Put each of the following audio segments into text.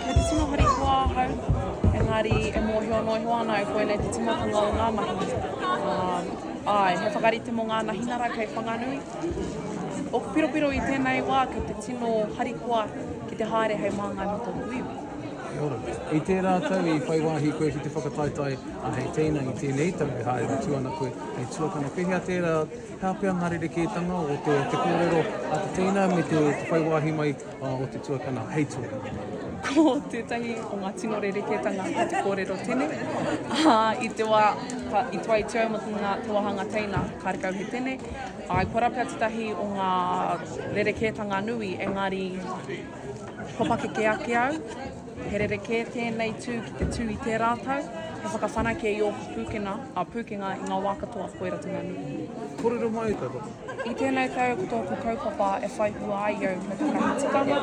Me te tino harikoa ahau, engari e mōhio noa iho ana au koinei te tīmatanga o ngā mahi. Uh, ai, he whakarite mō ngā nahinara kei Whanganui. O piropiro i tēnei wā ki te tino harikoa ki te haere hei māngai mō tōku iwi. I tērā tau i whai wāhi koe ki te whakataetae a hei teina i tēnei tau e haere atu ana koe hei tuakana. Pehea tērā, hea pea ngā rerekētanga o te, te kōrero a te teina me te, te whai wāhi mai o te tuakana hei tuakana. Ko tētahi o ngā tino rerekētanga o te kōrero tene, ā, i te wā ka i toa i te au mō te ngā te wāhanga teina, kāre kau he tene, āe, kua rapea tētahi o ngā rerekētanga nui, engari kua pakeke ake au, He rerekē tēnei tū ki te tū i tērā tau, he whakawhanake i ōku pūkenga, ā, pūkenga i ngā wā katoa, koe ratonga nui. Kōrero mai e koutou. I tēnei tau ko tōku kaupapa e whai hua ai au me tētahi tikanga,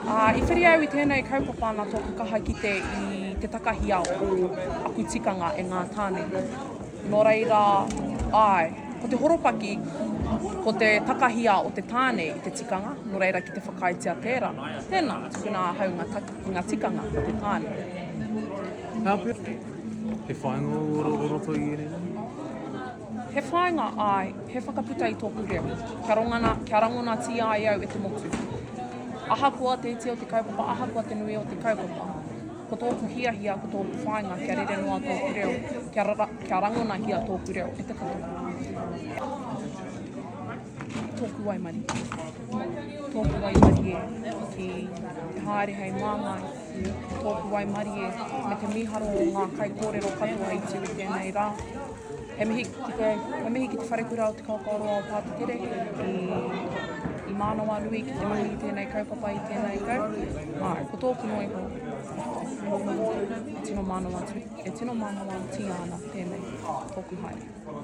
ā, i whiri au i tēnei kaupapa nā tōku kaha kite i te takahia o aku tikanga e ngā tāne. Nō reira, āe, ko te horopaki, ko te takahia o te tāne i te tikanga, nō reira ki te whakaaetia tērā, tēnā, tukuna ahau ngā take ki ngā tikanga o te tāne. Ngā pēpi, he whāinga o roto i ēnei rangi? He whāinga, āe, he whakaputa i tōku reo, kia rongana, kia rangonatia ai au e te motu. Ahakoa te iti o te kaupapa, ahakoa te nui o te kaupapa. Ko tōku hiahia, ko tōku whāinga kia rere noa tōku reo, kia, ra, kia rangonahia tōku reo e te katoa. Tōku waimarie. Tōku waimarie ki te haere hei māngai. Tōku waimarie me te mīharo o ngā kaikōrero katoa i tū i tēnei rā. He mihi ki te, he mihi ki te wharekura o Te Kaupapa Roa o Pātekere i, i Mānawanui ki te mahi i tēnei kaupapa i tēnei tau. Mā, ko tōku noa iho, e tino mānawa, e tino mānawa tia ana tēnei tōku haere.